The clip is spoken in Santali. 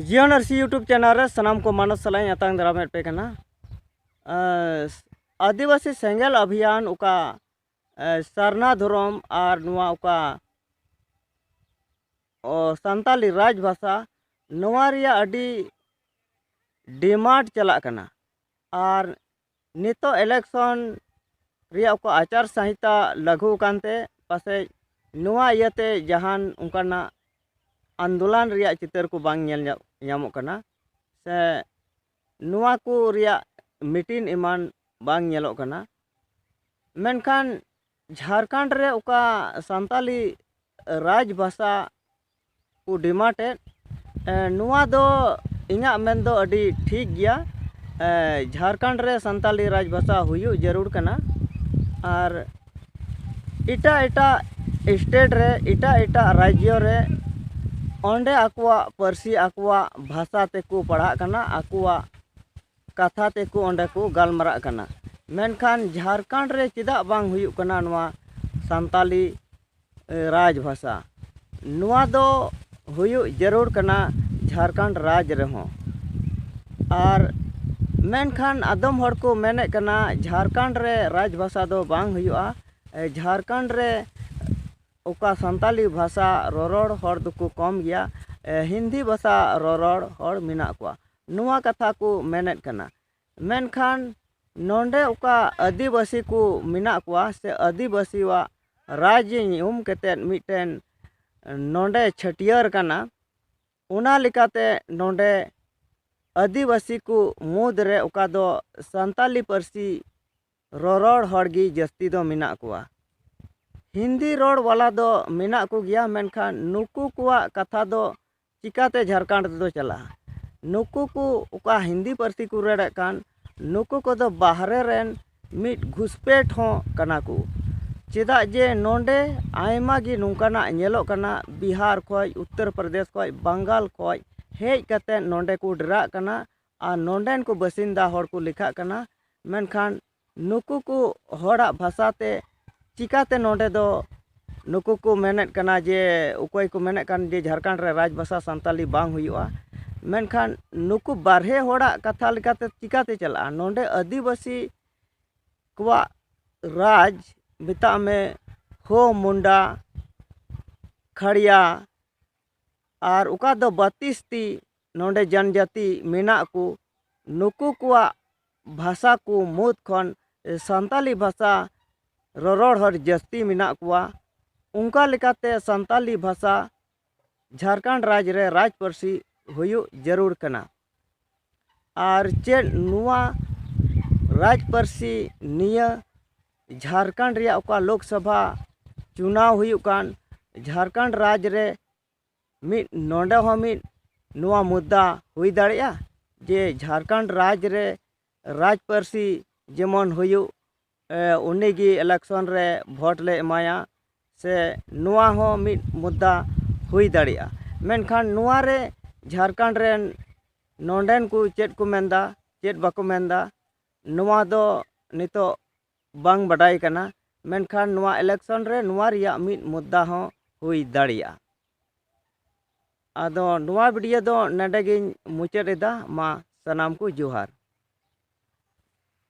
ᱡᱤᱭᱚᱱ ᱟᱨᱥᱤ ᱤᱭᱩᱴᱩᱵᱽ ᱪᱮᱱᱮᱞ ᱨᱮ ᱥᱟᱱᱟᱢ ᱠᱚ ᱢᱟᱱᱚᱥ ᱥᱟᱞᱟᱜ ᱤᱧ ᱟᱛᱟᱝ ᱫᱟᱨᱟᱢᱮᱫ ᱯᱮ ᱠᱟᱱᱟ ᱟᱹᱫᱤᱵᱟᱹᱥᱤ ᱥᱮᱸᱜᱮᱞ ᱟᱵᱷᱤᱭᱟᱱ ᱚᱠᱟ ᱥᱟᱨᱱᱟ ᱫᱷᱚᱨᱚᱢ ᱟᱨ ᱱᱚᱣᱟ ᱚᱠᱟ ᱥᱟᱱᱛᱟᱞᱤ ᱨᱟᱡᱽ ᱵᱷᱟᱥᱟ ᱱᱚᱣᱟ ᱨᱮᱭᱟᱜ ᱟᱹᱰᱤ ᱰᱤᱢᱟᱱᱰ ᱪᱟᱞᱟᱜ ᱠᱟᱱᱟ ᱟᱨ ᱱᱤᱛᱚᱜ ᱤᱞᱮᱠᱥᱚᱱ ᱨᱮᱭᱟᱜ ᱚᱠᱟ ᱟᱪᱟᱨ ᱥᱟᱸᱦᱤᱛᱟ ᱞᱟᱹᱜᱩ ᱟᱠᱟᱱ ᱛᱮ ᱯᱟᱥᱮᱡ ᱱᱚᱣᱟ ᱤᱭᱟᱹ ᱛᱮ ᱡᱟᱦᱟᱱ ᱚᱱᱠᱟᱱᱟᱜ ᱟᱱᱫᱳᱞᱚᱱ ᱨᱮᱭᱟᱜ ᱪᱤᱛᱟᱹᱨ ᱠᱚ ᱵᱟᱝ ᱧᱮᱞ ᱧᱟᱢᱚᱜ ᱠᱟᱱᱟ ᱥᱮ ᱱᱚᱣᱟ ᱠᱚ ᱨᱮᱭᱟᱜ ᱢᱤᱴᱤᱝ ᱮᱢᱟᱱ ᱵᱟᱝ ᱧᱮᱞᱚᱜ ᱠᱟᱱᱟ ᱢᱮᱱᱠᱷᱟᱱ ᱡᱷᱟᱲᱠᱷᱚᱸᱰ ᱨᱮ ᱚᱠᱟ ᱥᱟᱱᱛᱟᱲᱤ ᱨᱟᱡᱽ ᱵᱷᱟᱥᱟ ᱠᱚ ᱰᱤᱢᱟᱱᱰᱮᱫ ᱱᱚᱣᱟ ᱫᱚ ᱤᱧᱟᱹᱜ ᱢᱮᱱ ᱫᱚ ᱟᱹᱰᱤ ᱴᱷᱤᱠ ᱜᱮᱭᱟ ᱡᱷᱟᱲᱠᱷᱚᱸᱰ ᱨᱮ ᱥᱟᱱᱛᱟᱲᱤ ᱨᱟᱡᱽ ᱵᱷᱟᱥᱟ ᱦᱩᱭᱩᱜ ᱡᱟᱹᱨᱩᱲ ᱠᱟᱱᱟ ᱟᱨ ᱮᱴᱟᱜ ᱮᱴᱟᱜ ᱥᱴᱮᱴ ᱨᱮ ᱮᱴᱟᱜ ᱮᱴᱟᱜ ᱨᱟᱡᱽᱡᱚ ᱨᱮ ᱚᱸᱰᱮ ᱟᱠᱚᱣᱟᱜ ᱯᱟᱹᱨᱥᱤ ᱟᱠᱚᱣᱟᱜ ᱵᱷᱟᱥᱟ ᱛᱮᱠᱚ ᱯᱟᱲᱦᱟᱜ ᱠᱟᱱᱟ ᱟᱠᱚᱣᱟᱜ ᱠᱟᱛᱷᱟ ᱛᱮᱠᱚ ᱚᱸᱰᱮ ᱠᱚ ᱜᱟᱞᱢᱟᱨᱟᱜ ᱠᱟᱱᱟ ᱢᱮᱱᱠᱷᱟᱱ ᱡᱷᱟᱲᱠᱷᱚᱸᱰ ᱨᱮ ᱪᱮᱫᱟᱜ ᱵᱟᱝ ᱦᱩᱭᱩᱜ ᱠᱟᱱᱟ ᱱᱚᱣᱟ ᱥᱟᱱᱛᱟᱲᱤ ᱨᱟᱡᱽ ᱵᱷᱟᱥᱟ ᱱᱚᱣᱟ ᱫᱚ ᱦᱩᱭᱩᱜ ᱡᱟᱹᱨᱩᱲ ᱠᱟᱱᱟ ᱡᱷᱟᱲᱠᱷᱚᱸᱰ ᱨᱟᱡᱽ ᱨᱮᱦᱚᱸ ᱟᱨ ᱢᱮᱱᱠᱷᱟᱱ ᱟᱫᱚᱢ ᱦᱚᱲ ᱠᱚ ᱢᱮᱱᱮᱫ ᱠᱟᱱᱟ ᱡᱷᱟᱲᱠᱷᱚᱸᱰ ᱨᱮ ᱨᱟᱡᱽ ᱵᱷᱟᱥᱟ ᱫᱚ ᱵᱟᱝ ᱦᱩᱭᱩᱜᱼᱟ ᱡᱷᱟᱲᱠᱷᱚᱸᱰ ᱨᱮ ᱚᱠᱟ ᱥᱟᱱᱛᱟᱲᱤ ᱵᱷᱟᱥᱟ ᱨᱚᱨᱚᱲ ᱦᱚᱲ ᱫᱚᱠᱚ ᱠᱚᱢ ᱜᱮᱭᱟ ᱦᱤᱱᱫᱤ ᱵᱷᱟᱥᱟ ᱨᱚᱨᱚᱲ ᱦᱚᱲ ᱢᱮᱱᱟᱜ ᱠᱚᱣᱟ ᱱᱚᱣᱟ ᱠᱟᱛᱷᱟ ᱠᱚ ᱢᱮᱱᱮᱫ ᱠᱟᱱᱟ ᱢᱮᱱᱠᱷᱟᱱ ᱱᱚᱰᱮ ᱚᱠᱟ ᱟᱹᱫᱤᱵᱟᱹᱥᱤ ᱠᱚ ᱢᱮᱱᱟᱜ ᱠᱚᱣᱟ ᱥᱮ ᱟᱹᱫᱤᱵᱟᱹᱥᱤᱭᱟᱜ ᱨᱟᱡᱽ ᱧᱩᱢ ᱠᱟᱛᱮᱫ ᱢᱤᱫᱴᱮᱱ ᱱᱚᱰᱮ ᱪᱷᱟᱹᱴᱭᱟᱹᱨ ᱠᱟᱱᱟ ᱚᱱᱟ ᱞᱮᱠᱟᱛᱮ ᱱᱚᱰᱮ ᱟᱹᱫᱤᱵᱟᱹᱥᱤ ᱠᱚ ᱢᱩᱫᱽ ᱨᱮ ᱚᱠᱟ ᱫᱚ ᱥᱟᱱᱛᱟᱲᱤ ᱯᱟᱹᱨᱥᱤ ᱨᱚᱨᱚᱲ ᱦᱚᱲ ᱜᱮ ᱡᱟᱹᱥᱛᱤ ᱫᱚ ᱢᱮᱱᱟᱜ ᱠᱚᱣᱟ ᱦᱤᱱᱫᱤ ᱨᱚᱲ ᱵᱟᱞᱟ ᱫᱚ ᱢᱮᱱᱟᱜ ᱠᱚᱜᱮᱭᱟ ᱢᱮᱱᱠᱷᱟᱱ ᱱᱩᱠᱩ ᱠᱚᱣᱟᱜ ᱠᱟᱛᱷᱟ ᱫᱚ ᱪᱤᱠᱟᱹᱛᱮ ᱡᱷᱟᱲᱠᱷᱚᱸᱰ ᱛᱮᱫᱚ ᱪᱟᱞᱟᱜᱼᱟ ᱱᱩᱠᱩ ᱠᱚ ᱚᱠᱟ ᱦᱤᱱᱫᱤ ᱯᱟᱹᱨᱥᱤ ᱠᱚ ᱨᱚᱲᱮᱫ ᱠᱟᱱ ᱱᱩᱠᱩ ᱠᱚᱫᱚ ᱵᱟᱦᱨᱮ ᱨᱮᱱ ᱢᱤᱫ ᱜᱷᱩᱥᱯᱮᱴ ᱦᱚᱸ ᱠᱟᱱᱟ ᱠᱚ ᱪᱮᱫᱟᱜ ᱡᱮ ᱱᱚᱰᱮ ᱟᱭᱢᱟ ᱜᱮ ᱱᱚᱝᱠᱟᱱᱟᱜ ᱧᱮᱞᱚᱜ ᱠᱟᱱᱟ ᱵᱤᱦᱟᱨ ᱠᱷᱚᱱ ᱩᱛᱛᱚᱨ ᱯᱨᱚᱫᱮᱥ ᱠᱷᱚᱱ ᱵᱟᱝᱜᱟᱞ ᱠᱷᱚᱱ ᱦᱮᱡ ᱠᱟᱛᱮᱫ ᱱᱚᱰᱮ ᱠᱚ ᱰᱮᱨᱟᱜ ᱠᱟᱱᱟ ᱟᱨ ᱱᱚᱰᱮᱱ ᱠᱚ ᱵᱟᱹᱥᱤᱱᱫᱟ ᱦᱚᱲ ᱠᱚ ᱞᱮᱠᱷᱟᱜ ᱠᱟᱱᱟ ᱢᱮᱱᱠᱷᱟᱱ ᱱᱩᱠᱩ ᱠᱚ ᱦᱚᱲᱟᱜ ᱵᱷᱟᱥᱟ ᱛᱮ ᱪᱤᱠᱟᱹᱛᱮ ᱱᱚᱰᱮ ᱫᱚ ᱱᱩᱠᱩ ᱠᱚ ᱢᱮᱱᱮᱫ ᱠᱟᱱᱟ ᱡᱮ ᱚᱠᱚᱭ ᱠᱚ ᱢᱮᱱᱮᱫ ᱠᱟᱱ ᱡᱮ ᱡᱷᱟᱲᱠᱷᱚᱸᱰ ᱨᱮ ᱨᱟᱡᱽ ᱵᱷᱟᱥᱟ ᱥᱟᱱᱛᱟᱲᱤ ᱵᱟᱝ ᱦᱩᱭᱩᱜᱼᱟ ᱢᱮᱱᱠᱷᱟᱱ ᱱᱩᱠᱩ ᱵᱟᱨᱦᱮ ᱦᱚᱲᱟᱜ ᱠᱟᱛᱷᱟ ᱞᱮᱠᱟᱛᱮ ᱪᱤᱠᱟᱹᱛᱮ ᱪᱟᱞᱟᱜᱼᱟ ᱱᱚᱰᱮ ᱟᱹᱫᱤᱵᱟᱹᱥᱤ ᱠᱚᱣᱟᱜ ᱨᱟᱡᱽ ᱢᱮᱛᱟᱜ ᱢᱮ ᱦᱳ ᱢᱩᱱᱰᱟ ᱠᱷᱟᱲᱭᱟ ᱟᱨ ᱚᱠᱟ ᱫᱚ ᱵᱟᱹᱛᱤᱥᱛᱤ ᱱᱚᱰᱮ ᱡᱚᱱᱡᱟᱹᱛᱤ ᱢᱮᱱᱟᱜ ᱠᱚ ᱱᱩᱠᱩ ᱠᱚᱣᱟᱜ ᱵᱷᱟᱥᱟ ᱠᱚ ᱢᱩᱫᱽ ᱠᱷᱚᱱ ᱥᱟᱱᱛᱟᱲᱤ ᱵᱷᱟᱥᱟ ᱨᱚᱨᱚᱲ ᱦᱚᱲ ᱡᱟᱹᱥᱛᱤ ᱢᱮᱱᱟᱜ ᱠᱚᱣᱟ ᱚᱱᱠᱟ ᱞᱮᱠᱟᱛᱮ ᱥᱟᱱᱛᱟᱲᱤ ᱵᱷᱟᱥᱟ ᱡᱷᱟᱲᱠᱷᱚᱸᱰ ᱨᱟᱡᱽ ᱨᱮ ᱨᱟᱡᱽ ᱯᱟᱹᱨᱥᱤ ᱦᱩᱭᱩᱜ ᱡᱟᱹᱨᱩᱲ ᱠᱟᱱᱟ ᱟᱨ ᱪᱮᱫ ᱱᱚᱣᱟ ᱨᱟᱡᱽ ᱯᱟᱹᱨᱥᱤ ᱱᱤᱭᱟᱹ ᱡᱷᱟᱲᱠᱷᱚᱸᱰ ᱨᱮᱭᱟᱜ ᱚᱠᱟ ᱞᱳᱠ ᱥᱚᱵᱷᱟ ᱪᱩᱱᱟᱣ ᱦᱩᱭᱩᱜ ᱠᱟᱱ ᱡᱷᱟᱲᱠᱷᱚᱸᱰ ᱨᱟᱡᱽ ᱨᱮ ᱢᱤᱫ ᱱᱚᱰᱮ ᱦᱚᱸ ᱢᱤᱫ ᱱᱚᱣᱟ ᱢᱩᱫᱽᱫᱟ ᱦᱩᱭ ᱫᱟᱲᱮᱭᱟᱜᱼᱟ ᱡᱮ ᱡᱷᱟᱲᱠᱷᱚᱸᱰ ᱨᱟᱡᱽ ᱨᱮ ᱨᱟᱡᱽ ᱯᱟᱹᱨᱥᱤ ᱡᱮᱢᱚᱱ ᱦᱩᱭᱩᱜ ᱩᱱᱤ ᱜᱮ ᱤᱞᱮᱠᱥᱚᱱ ᱨᱮ ᱵᱷᱳᱴ ᱞᱮ ᱮᱢᱟᱭᱟ ᱥᱮ ᱱᱚᱣᱟ ᱦᱚᱸ ᱢᱤᱫ ᱢᱩᱫᱽᱫᱟ ᱦᱩᱭ ᱫᱟᱲᱮᱭᱟᱜᱼᱟ ᱢᱮᱱᱠᱷᱟᱱ ᱱᱚᱣᱟ ᱨᱮ ᱡᱷᱟᱲᱠᱷᱚᱸᱰ ᱨᱮᱱ ᱱᱚᱰᱮᱱ ᱠᱚ ᱪᱮᱫ ᱠᱚ ᱢᱮᱱᱫᱟ ᱪᱮᱫ ᱵᱟᱠᱚ ᱢᱮᱱᱫᱟ ᱱᱚᱣᱟ ᱫᱚ ᱱᱤᱛᱚᱜ ᱵᱟᱝ ᱵᱟᱰᱟᱭ ᱠᱟᱱᱟ ᱢᱮᱱᱠᱷᱟᱱ ᱱᱚᱣᱟ ᱤᱞᱮᱠᱥᱚᱱ ᱨᱮ ᱱᱚᱣᱟ ᱨᱮᱭᱟᱜ ᱢᱤᱫ ᱢᱩᱫᱽᱫᱟ ᱦᱚᱸ ᱦᱩᱭ ᱫᱟᱲᱮᱭᱟᱜᱼᱟ ᱟᱫᱚ ᱱᱚᱣᱟ ᱵᱷᱤᱰᱤᱭᱳ ᱫᱚ ᱱᱚᱰᱮ ᱜᱤᱧ ᱢᱩᱪᱟᱹᱫ ᱮᱫᱟ ᱢᱟ ᱥᱟᱱᱟᱢ ᱠᱚ ᱡᱚᱦᱟᱨ